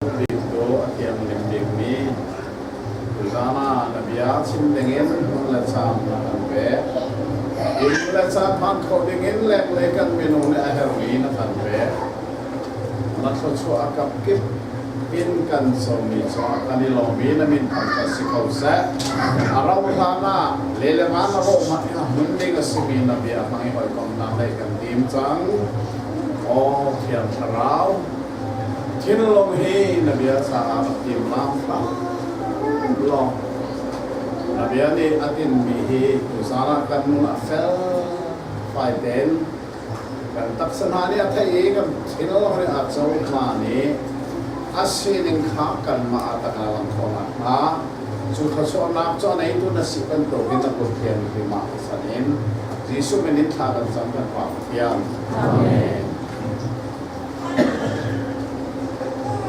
Thil cu a thiang lengdingmi Ram ah na bia chim dingin hmun le caan a kan pek. Inn le caan hman khawh dingin lenglei kan minung nih a herhmi na kan pek. Na thluachuah a kap kip in kan sawmmi cungah kan i lawmmi na min thangṭhat si ko seh. A rauhhlan ah le le van a rawh hmanh i a hmun ding a simi na bia hmang i hawikomhnak ngeih kan tim cang. Oh Thiang Thlarau, Thinlung hi na bia caah a fim hramhram. Lawng na bia nih a tinmi hi tuzan ah kan nun a fel fai tein kan taksa hna nih a theih i kan thilri a cohma nih a sining kha kanmah ah tang a lang khawh nakhnga cu thluachuahnak cu a neitu na si bantukin na Pathian hrimah san in Jesuh min in thla kan cam kan Pathian. Amen.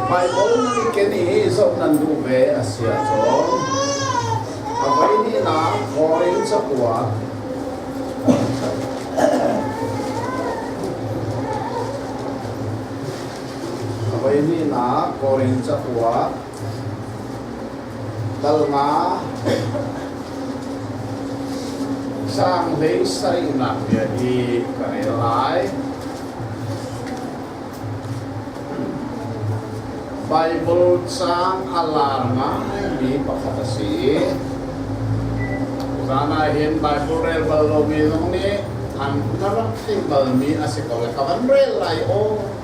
Baibal na nih ken i zoh nan duh ve a si ahcun a voihnihnak Korin cabuah a voihnihnak Korin cabuah Kal nga Sanghleing saringhnak bia hi ka rel lai. Bible caang a lar ngaimi pakhat a si i zan ah hin Bible rel bal lomi zong nih an na rak thei balmi a si ko lai ka van rel lai aw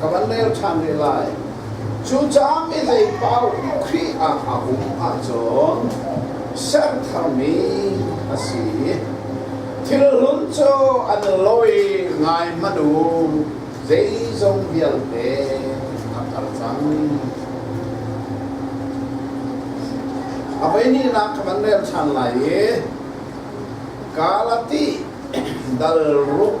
ka van leo ṭhan ne lai. Cucaah mi lei paupi Khrih ah a um ahcun sertharmi a si. Thilhlun cu an lawi ngai manh u, zeizong vialte a karh cang. A voihnihnak ka van rel ṭhan lai i Galati dal ruk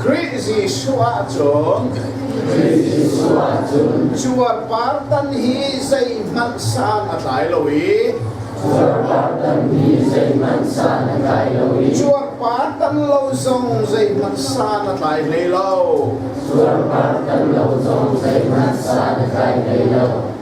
Khrih Jesuh ahcun cuarpartan hi zeihmanh san a tlai lo i cuarpartan lo zong zeihmanh san a tlai hlei lo.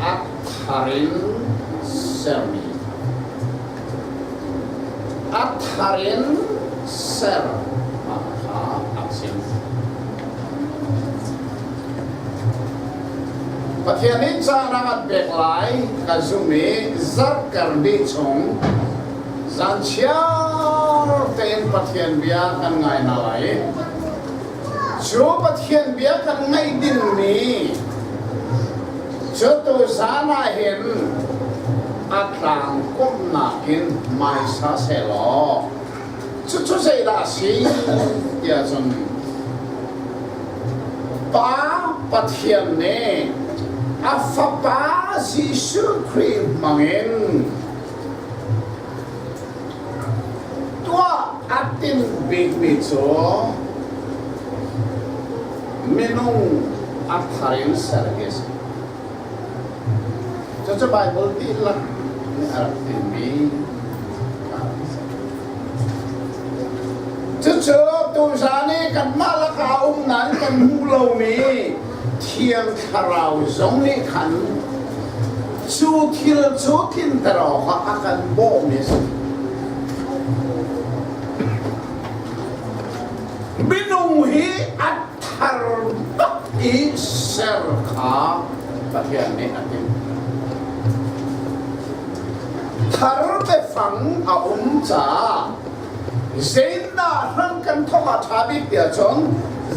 Ap thar in sermi. Ap thar in ser. Mah kha ap sim. Pathian nih caan a kan pek lai ka zumh i zarhter ni chung zan chiar tein Pathian bia kan ngai hna lai. cu Pathian bia kan ngaih dingmi cu tu zan ah hin a tlang kumnak in mai sa sehlaw cucu zeidah a si tiah cun Pa Pathian nih a fapa Jesuh Khrih hmangin Tuah a tim bikmi cu minung a thar in ser hi a si. Cucu Baibal dihlak nih a rak tinmi Cucu tuzan i kanmah laka a um nain kan hmuh lomi Thiang Thlarau zong nih khan cu thil cu tlinter awkah a kan bawm i minung hi a thar tuk i ser kha Pathian nih a timh. Thar biafang a um caah Zeidah ram kan thong a ṭha bik ti ahcun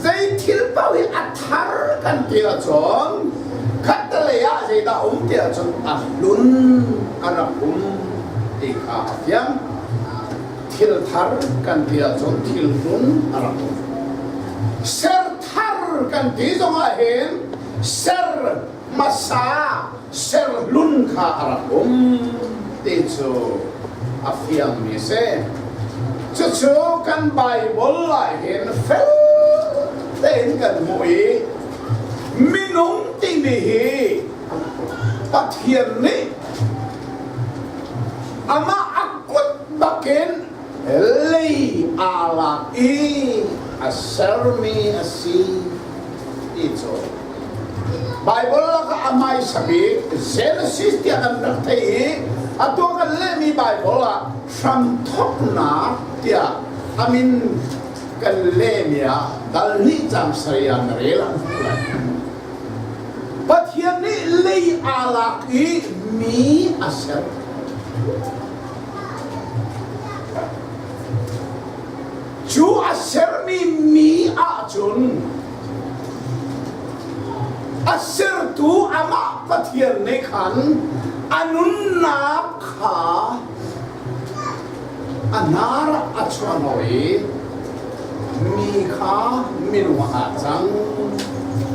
zei thil paoh hi a thar kan ti ahcun khattelei ah zeidah um ti ahcun a hlun a rak um ti kha a fiang. Thil thar kan ti ahcun thil hlun a rak um. Ser thar kan ti zongah hin ser hmasa serhlun kha a rak um ti cu a fiangmi a si. Cucu kan Baibal ah hin fel tein kan hmuh i minung timi hi Pathian nih amah a kut bakin lei aa lak i a sermi a si ti cu Bible laka a hmaisa bik Genesis tiah kan rak theih i atu kan lehmi Bible ah hramthoknak tiah a min kan lehmi ah dalhnih caang sarih ah na rel an hmuh lai Pathian nih lei aa lak i mi a ser Cu a sermi mi ahcun a sertu amah Pathian nih khan a nunnak kha a hnar a chuano i mi kha minung ah cang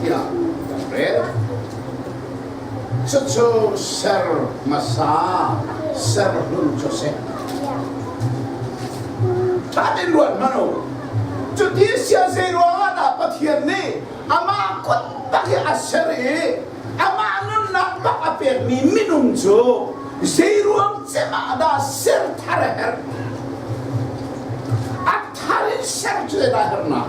tiah kan rel. Cucu ser hmasa serhlun cu a si. Thatin ruat hmanh u. Cuti a si ah zei ruangah dah Pathian nih amah kut tak hi a ser i amah nunnak bak a pekmi minung cu zei ruang cem ah dah ser thar a herh? A thar in ser cu zeidah a herhnak?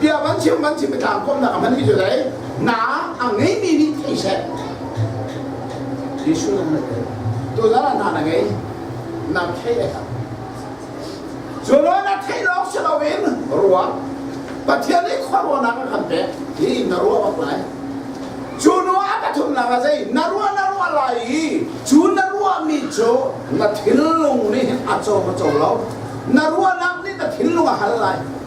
bia van chim van chim tlang kom nak man hi cu dai na a ngei mi nih thei se Jesu nan ngai tu na na na ngei na thei le ka Zo lo na thei lo si lo in ruwa Pathian nih khwarwa nak kan pe hi na ruwa ba lai cu nu a pathum nak a zei na ruwa na ruwa lai i cu na ruwa mi cu na thil lung nih a cho ma cho lo na ruwa nak nih na thil lung a hal lai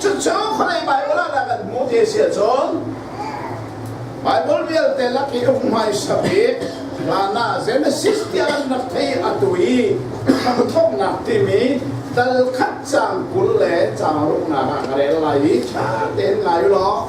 Cucu vawlei Baibal ah dah kan hmuh ti a si ahcun Baibal vialte lak i um hmaisa bik Hana Genesis tiah an rak thei atu i hramthawknak timi tal khat cang kul le cang ruknak ah ka rel lai i ṭha tein ngai u law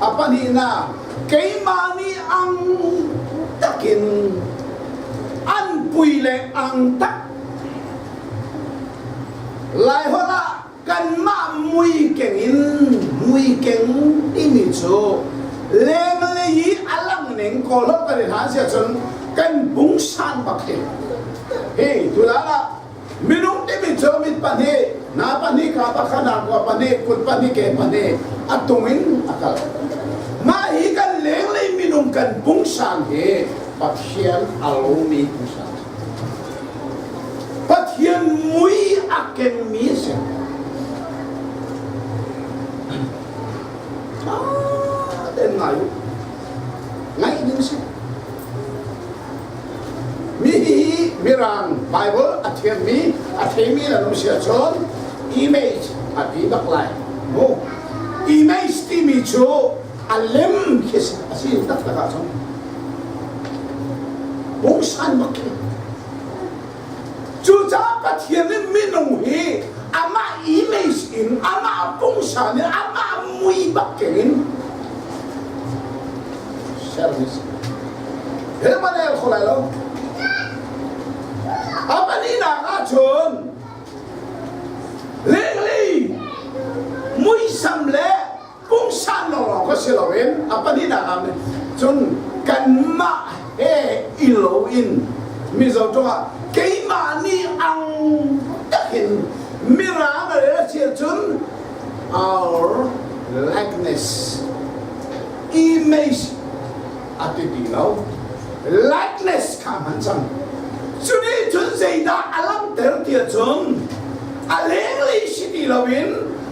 a pahnihnak keimah nih ang takin anpui le ang tak laiholh ah kanmah mui keng in mui keng timi cu leng le hi a lang ning kawlho kan in han si ahcun kan bung san bak hi hei tu la la Minung timi cu mit pahnih, nga pahnih, ka pahnih, nakua pahnih, kut pahnih, ke pahnih a tung in a kal. Mah hi kan lenglei minung kan pungsang hi Pathian a lomi pungsang. Pathian mui a kemmi a si. Ah, den ngai u. Ngai ding si. Mi nih hi Mirang Bible a thiammi a theimi na nu si ahcun image a pi bak lai mu image timi cu a lem khi a si tak tak ahcun books an mak khi Cucaah Pathian nih minung hi amah image in amah pungsa nih amah mui bakin in service he man el kho lai lo a pahnihnak ah cun lenglei muisam le pumsan lo lawng kha si loin a pahnihnak ah cun kanmah he i lo in Mizo tawngah keimah nih ang takin mirang rel cil cun our likeness image a ti ti lo likeness kha hman cang cuni cun zeidah a langhter ti cun a lenglei si ti loin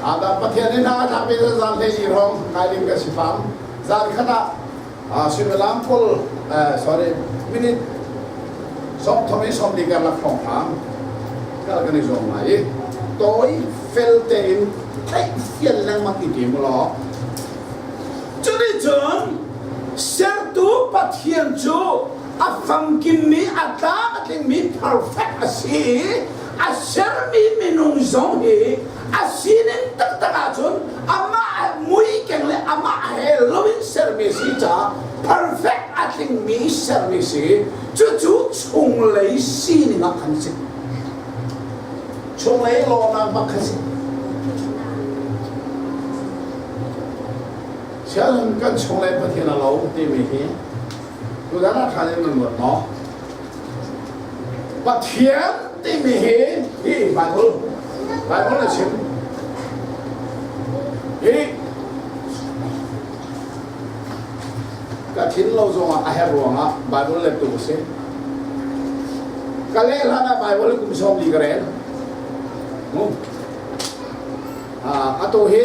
Ada Pathian in a thapin zan hlei i rom ngai lim ka si pam zan khat ah suimilam kul sorry minute som thong in som li kar lak phong phang kal kan i zong ngai i toi fel te in thei fian lengmang ti ti mu lo cuni cun sertu pathian cu a famkimmi a tlang a tlingmi perfect a si i a sermi minung zong hi a sining taktak ahcun amah muikeng le amah he lo in sermi si caah perfect a tlingmi sermi si cucu chunglei sining ah khan si chunglei lawmnak bak khan si sian kan chunglei pathian a lo timi hi tudang ah khan in nan ruat maw Pathian timi hi hi Bible Bible a chim hi ka thin lo zongah a her ruangah Bible lettu a si ka leh hlan ah Bible kum sawm li ka rel a tu hi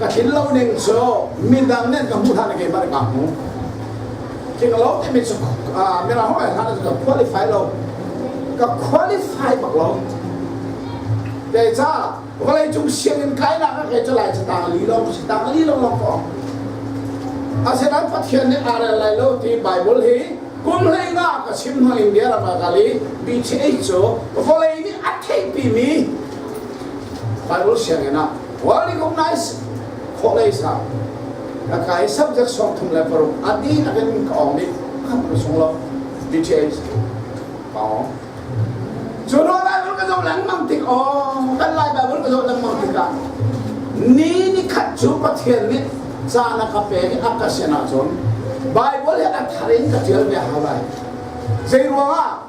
ka tlin lo ning cu midang nih ka hmuh hlan ah keimah nih kaa hmu tlinglo timi cu mirang ho hlan ah ka qualify lo ka qualify bak lo kei ca vawlei cung sianginn kainak ah kei cu lai cu tang li long si tang li long long ko asinain pathian nih aa rel lai lo ti bible hi kum hleina ka chim hmang india ram ah kali PTA cu vawlei nih a theihpimi Bible sianginn ah recognize khawlei sa na kai subject song thum le paruk ati na kan ka ong ni kan ru sung lo details pao Chu lo Bible ka zo lang mang tik o kan lai Bible ka zo lang mang tik ah ni ni khat chu Pathian nih cha na ka pe ni aka sena chun Bible ya ka thar in ka tial ve hawai zei ruang ah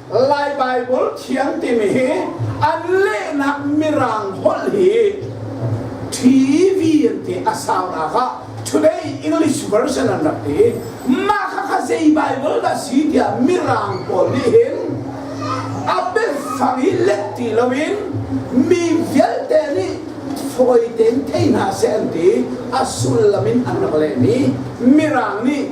Lai Baibal thiang timi hi an lehnak mirang holh hi TV an ti a saunak ah Today English version an rak ti. Mah kha kha zei Baibal dah si tiah mirang pawl nih hin a biafang hi let ti lo in mi vialte nih fawi tein thei hna seh an ti. A sullam in an rak lehmi mirang nih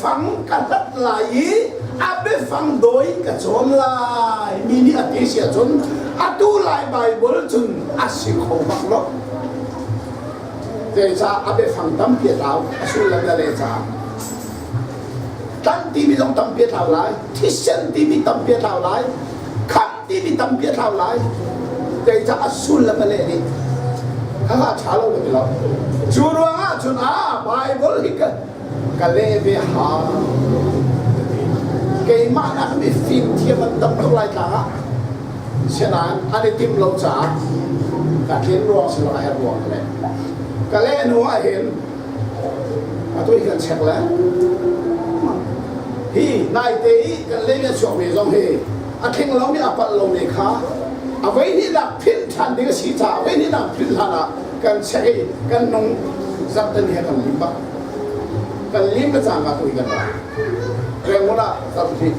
fang ka hlat lai i a biafang dawi ka cawn lai mi nih a ti si ahcun atu lai Baibal cun a si kho bak lo zeicah a biafang tampi a tlau a sullam le le caah tlan timi zong tampi a tlau lai thisen timi tampi a tlau lai khamh timi tampi a tlau lai zeicah a sullam le nih kha ṭha lo ka ti lo cu ruangah cun a Bible hi ka leh ve hau. Keimah naknih fimthiam an tam tuk lai tlang ah. Sianain an i tim lo caah ka thin ruang si lo a her ruang le. Ka leh hnu ah hin atu hi kan check le. Hi naite i kan le kan chuak ve zong hi a tling lomi a palh lomi kha a voi hnihnak philh ṭhan ding a si caah voi hnihnak philh hlan ah kan check i kan nung zarh tan hi a kan lim bak. kan lim ka cang ah tuli kan ra rengmul ah tam hrit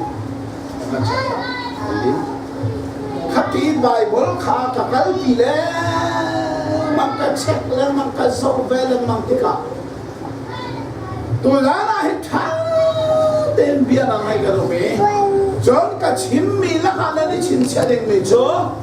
kan kan lim khat tiin bible kha ka kalpi le mang ka check le mang ka zoh ve le mang tikah tulan ah hin ṭha tein bia na ngai ka rum i cun ka chimmi lakah nan i chinchiah dingmi cu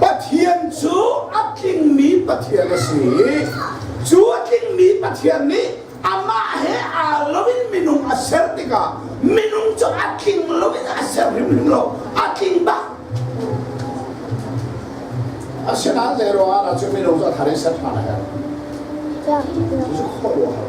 Pathian cu a tlingmi Pathian a si i cu a tlingmi Pathian nih amah he aa loin minung a ser tikah minung cu a tling loin a ser hrimhrim lo a tling bak asinain zeiruangah ahcun minung cu a thar i ser ṭhan a herh cucu khuaruahhar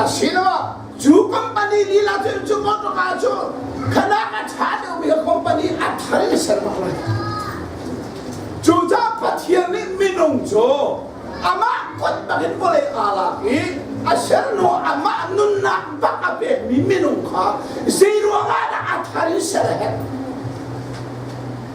Asiloah cu company lila cu cu motor cu khanak a ṭha deuhmi company a thar in sermah lai. Cucaah Pathian nih minung cu amah kut bangin vawlei aa lak i a ser hnu amah nunnak bak a pekmi minung kha zeiruangah dah a thar in ser a herh?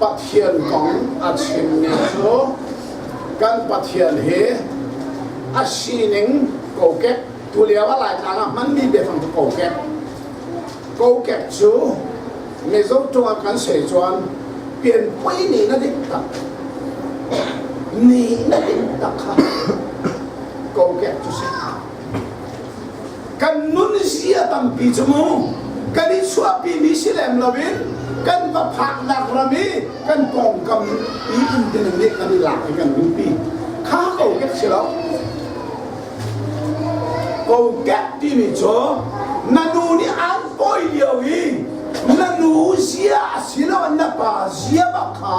Pathian kong a chimmi cu kan Pathian hi a sining kokek tu lio a laitlang ah hmanmi biafang cu kokek kokek cu mizo tungah kan sei chuan pianpui ni na dik tak ni na dik tak kha kokek cu si kan nun si a tampi cu mu kan i chuahpi mi si lem lo in kan va phaknak ram i kan pawngkam i inn ding nih kan i lak i kan ringpi kha ko kek si lo ko kek timi cu na nu nih an pawi lio i na nu zia a si lo na pa zia bak kha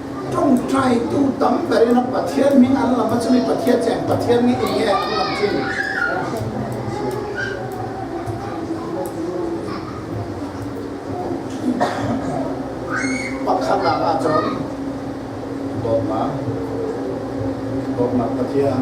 ṭawngṭaitu tam ber in Pathian min an lam cu mi Pathian cu Pathian nih eng nge an lam chin? Pakhatnak ahcun dawtnak dawtnak Pathian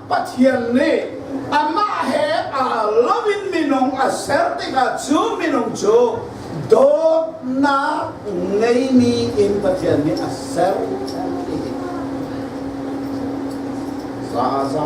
Pathian nih amah he aa loin minung a ser tikah cu minung cu dawtnak ngeimi in Pathian nih a ser ti zaza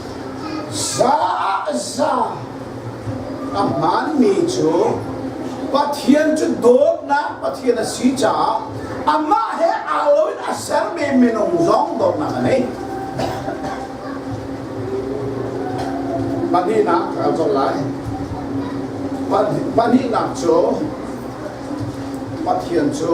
Zaza a hmaanmi cu Pathian cu dawtnak Pathian a si caah amah he aa loin a sermi minung zong dawtnak a ngei. Pahnihnak kaa colh lai. Pahnihnak cu Pathian cu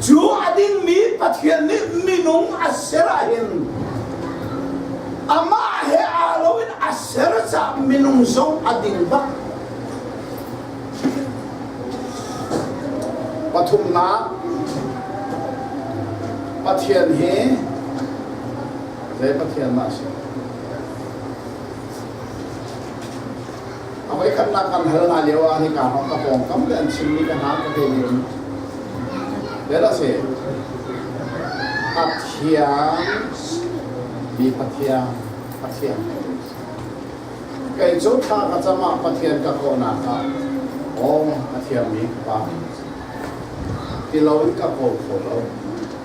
Cu a dingmi Pathian nih minung a ser ahhin amah he aa loin a ser caah minung zong a ding bak. Pathumnak Pathian hi zei Pathian dah a si? A voikhatnak kan hal hna lio ah nika hmang ka pawngkam le an chimmi ka hna ka te in vel a si pathian mi pathian pathian kei cu thla ka cam ah pathian ka kawhnak ah awng pathian mi pa ti lo in ka ko kho lo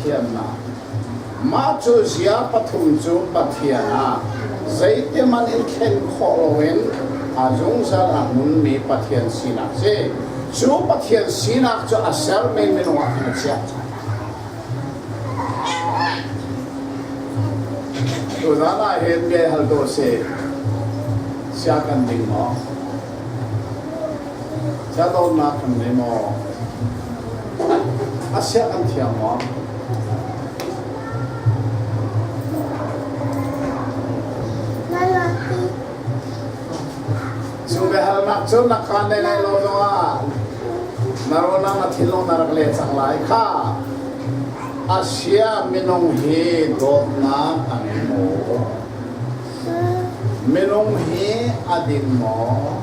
thiamnak. Mah cu zia pathum cu Pathian ah zeitiman in thlen khawh loin a zungzal a hmunmi Pathian sinak si. Cu Pathian sinak cu a ser menmen ah in a chiah. Tu zan ah hin bia hal to si, sia kan ding maw? Sia dawtnak kan nei maw? A siah kan thiang maw? Cu biahalnak cu na kaan nei lai lo zongah na ronang na thinlung na rak len cang lai kha. Asia minung hi dawtnak an ngei maw? Minung hi a din maw?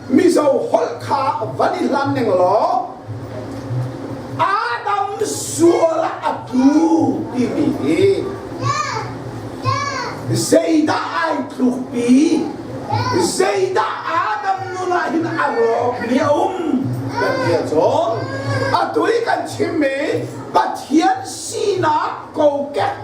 Mizo holh kha van i hlan ning law Adam sual a tu timi hi zeidah ai tluk pi zeidah Adam nun ah hin a rawk ni a um kan tia cawn a tui kan chim mi Pathian sinak kokek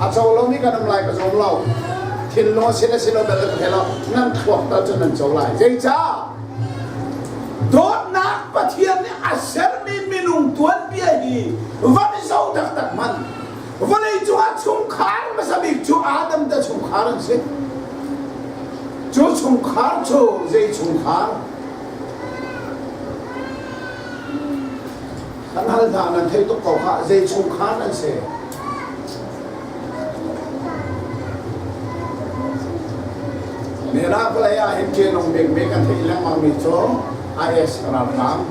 a co lomi kan um lai ka zawn lo thil lo sin a si lo bel an thei lo nan thluak ta cun nan co lai zeicah dawtnak pathian nih a sermi minung tuanbia hi van i zo taktak man vawlei cungah chungkhar hmasa bik cu adam te chungkhar an si cu chungkhar cu zei chungkhar An hal hna, nan theih tuk ko khah, zei chungkhar an si? Miracle lei ah hin ṭianong bikbik an theih lengmangmi cu IS ralhrang.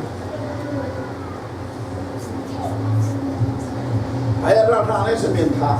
IS ralhrang in samin thah.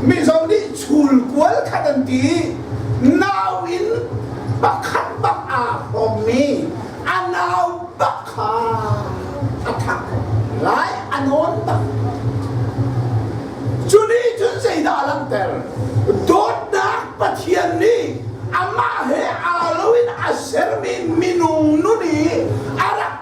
Mizo nih chul kual khat an ti. Nau in pakhat bak aa hrawmmi a nau bak kha a thak lai a nawn bak. Cu nih cun zeidah a langhter? Dawtnak Pathian nih amah he aa loin a sermi minung nun i a rak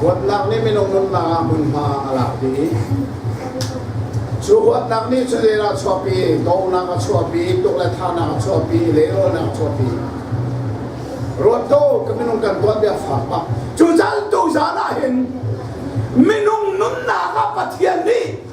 Huatnak nih minung nunnak ah hmunhma a lak dih Cu huatnak nih cu leel a chuahpi, dawhnak a chuahpi, tuk le thahnak a chuahpi, leirawnnak a chuahpi. Ruatko ka minung kan tuat bia fak pak. Cu zan tu zan ah hin minung nunnak ah Pathian nih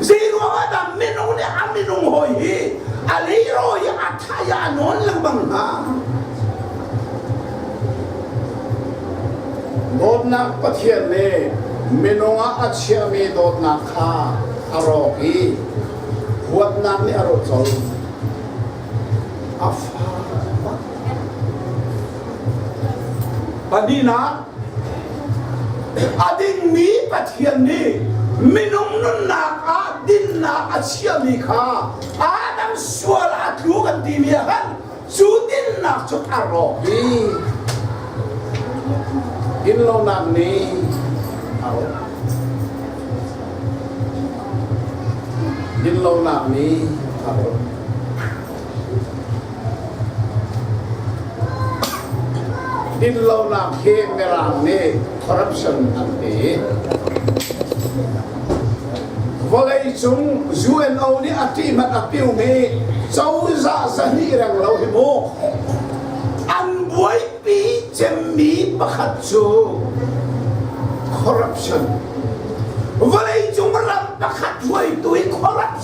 zei ruangah dah minung nih a minung hoi hi a leiro i a thaya nawn lengmang hnga dawtnak pathian nih minung ah a chiahmi dawtnak kha a rawk i huatnak nih a rawt colh a fa pahnih nak A dingmi Pathian nih minung nunnak ah dinnak a chiami kha Adam sual a tlu kan timi ah khan cu dinnak cu a rawk i inlonak nih a rawk. Dinlonak nih a rawk. Dinlonak hi Mirang nih corruption an ti. Vawleicung UNO nih a ṭihmat a piumi cozah zahnih reng lo hi mu an buaipi cemmi pakhat cu corruption vawleicung ram pakhat hruaitu i corruption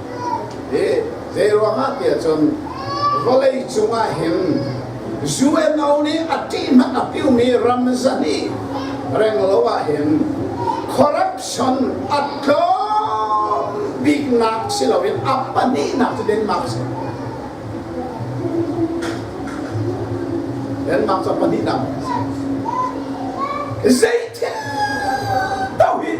Hi zeiruangah tiah cun vawlei cungah hin UNO nih a ṭihman a piumi ram zahnih renglo ah hin corruption a tlawm biknak si loin a pahnihnak cu Denmark si. Denmark cu a pahnihnak. Zei thil tau hi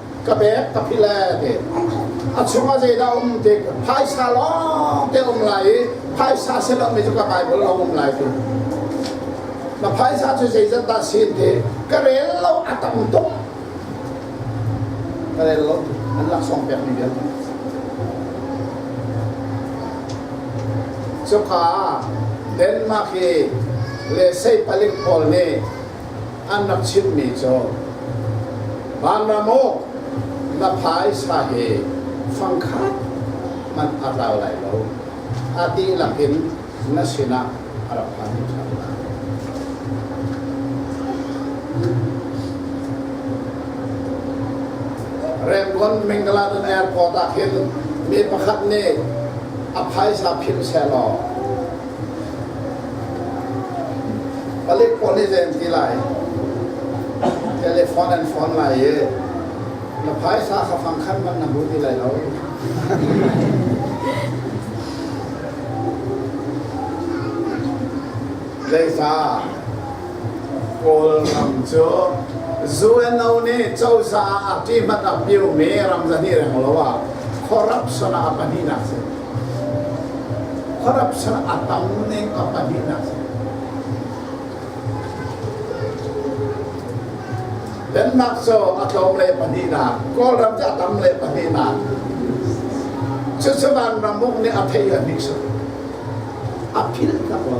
ka pek ka philh le te a chungah zeidah um ti phaisa lawng te um lai i phaisa si lomi cu ka Bible a um lai tu na phaisa cu zeizat dah sin ti ka rel lo a tam tung ka rel lo an laksawng pek mi vialte cuka Denmark hi le sei palik pawl nih an rak chimhmi cu Vanram aw na phaisa hi fangkhat hmanh a tlau lai lo a dihlak in na sinah a rak phan thar hna. Rangon Mingaladan Airport ah hin mi pakhat nih a phaisa philh selaw Palik pawl nih zei an ti lai? Telefon an fawn lai i na phaisa kha fangkhan man na hmu ti lai lo. Zeicah Kawl ram cu UNO nih cozah ah ṭihmat a piumi ram zahnih reng lo ah corruption ah a pahnihnak a si. Khuarap ser a tam ne ka pahnihnak Denmark cu a tlawm le pahnih na Kawlram cu a tam le pahnih na Cucavan ramuk nih a thei a nih a philh tak lo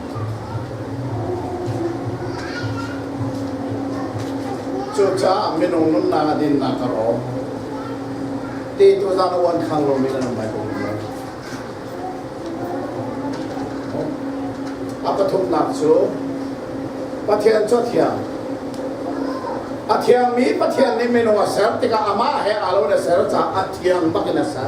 Cucaah minung nunnak a dinnak ka rawm. Te tu zan uan khang lo min an bai ko lo. A pathumnak cu Pathian cu thiang. A thiang mi Pathian nih minung a ser tikah amah he aa lo in a ser caah a thiang bak in a ser.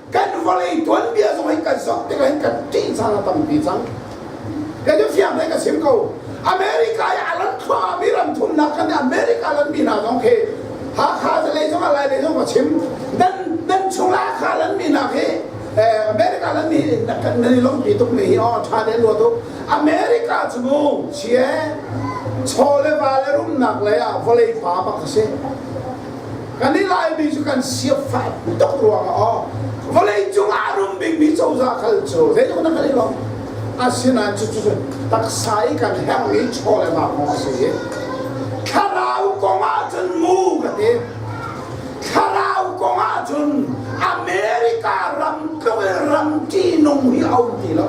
kan vawlei tuanbia zong in kan zoh tikah hin kan ṭih caan a tampi cang kan i fiang hei ka sim ko America i a lan thluahmi ram thumnak kan America lanmi hna zong khi Hakha zalei zong a lailei zong ka chim nan nan chung Hakha lanmi hna khi America lanmi kan nan i longpi tuk ni hi o ṭha ne luat u America cu chia chaw le va le rumnak lei ah vawlei fa bak a si kan i laimi cu kan siafah tuk ruangah aw vawlei cungah a rum bikmi cozah kal cu zeitluk na kan i lawm asinain cucu taksa i kan herh i chaw le ngaknu a si i thlarau kongah cun mu ka ti thlarau kongah cun america ram tluk in ram ṭihnung hi a um ti lo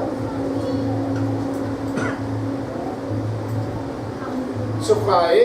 cuka i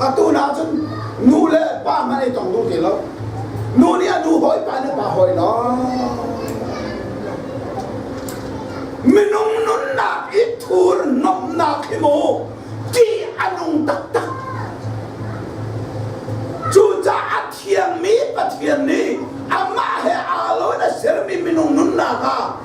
atu nak cun nu le pa man ei tong duh ti lo nu nih a nu hawi pa nih pa hawi lo minung nunnak i thur nomnak hi mu tih a nung taktak cucaah thiangmi pathian nih amah he aa lo in a sermi minung nunnak ah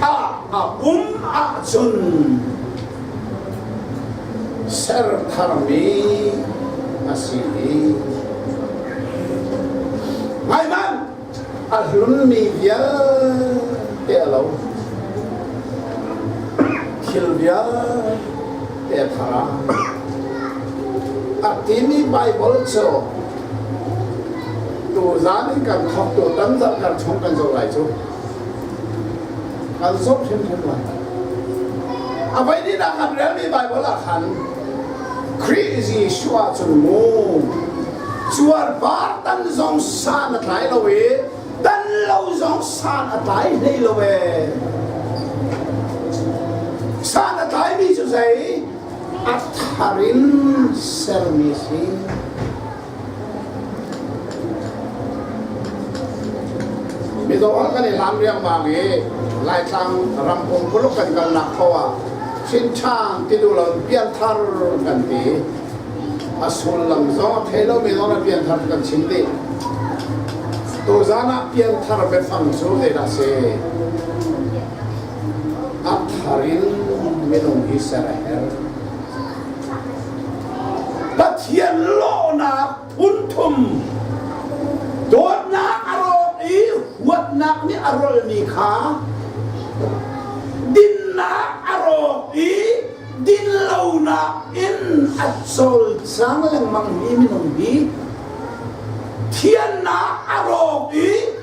ah a um ahcun ser tharmi a si i ngaihmanh a hlunmi vialte a lo thil vialte thara a timi Bible cu tu zan in kan khok tu tam zat kan chung kan zo lai cu Kan zomh hrimhrim lai. A voi nih dah kan relmi Baibal ah khan Khrih is Yeshua cun mu cuarvar tan zong san a tlai lo i tan lo zong san a tlai hlei lo e. San a tlaimi cu zei? A thar in sermi si. Mizaw an kan i hlan riangmang i Laitlang ramkung kuluk kan kalnak kho ah Chinchang tidulon pianthar kan ti a sullam zong a thei lomi zong ah pianthar kan chim dih tuzan ah pianthar biafang cu zei dah si a thar in minung hi ser a herh Pathian lawhnak phunthum dawtnak a rawk i huatnak nih a rolmi kha dinnak a rawk i dinlonak in a cawlcang lengmangmi minung hi thiannak a rawk i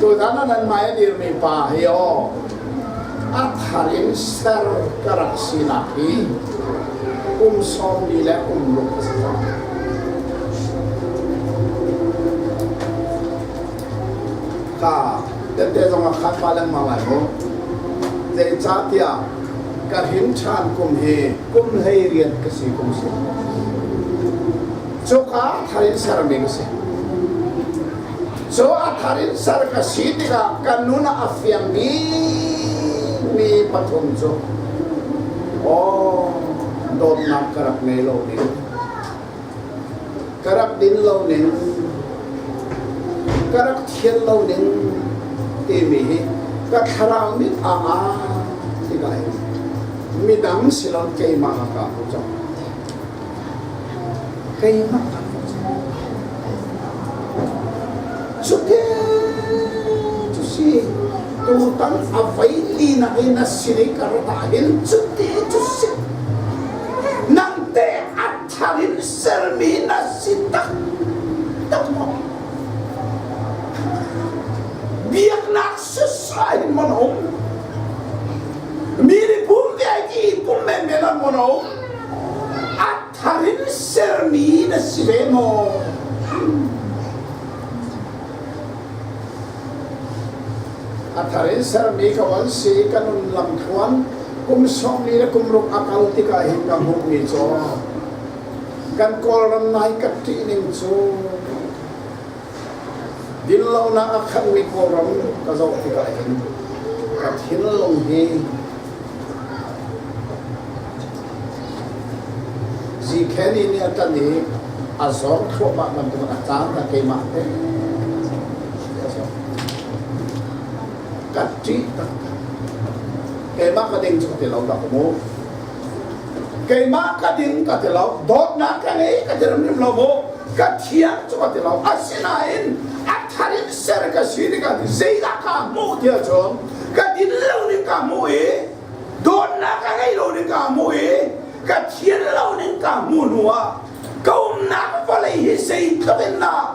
Tutan ah nanmah a dirmi pa hi aw a thar in ser ka rak sinak hi kum sawmli le um ruk a si cang. Ka tete zong a khat pa lengmang lai mu. Zeicahtiah ka hin ṭhan kum hi kum hlei rian ka si kum si. cuka thar in ser ding a si. Cu a thar in ser ka si tikah kan nun a fiang mi mi pathum cu aw dawtnak ka rak ngei lo ning ka rak din lo ning ka rak thian lo ning timi hi ka thlarau mit anga tikai midang silon keimah ka ko cang keimah kan cutin cu si tutan a vai linak in a sinai kar ta hin cuti cu si nangte a thar in sermi na si tak tak maw biaknak susai mon hong mi ri pum ve ki pum men men an mon hong a thar in sermi na si ve maw? A thar in sermi ka van si ka nun lam thuan kum sawmli le kum ruk a kal tikah hin ka hmuhmi cu kan kawlram nai ka ṭih ning cu Dinlonak a khanhmi kawlram ka zoh tikah hin ka thinlung hi Zikeni nih a ṭan i a zawng thluahmah bantukin a caan a keimah te ka ṭih tak keimah ka ding cu ka ti lo dah mu keimah ka ding ka ti lo dawtnak ka ngei ka ti ram lo mu ka thiang cu ka ti lo asinain a tharin ser ka si ni ka ti zeidah ka hmuh ti chun ka din lo ning ka hmuh i dawtnak ka ngei lo ning ka hmuh i ka thian lo ning ka hmuh hnu ah ka umnak vawlei hi zei tluk in dah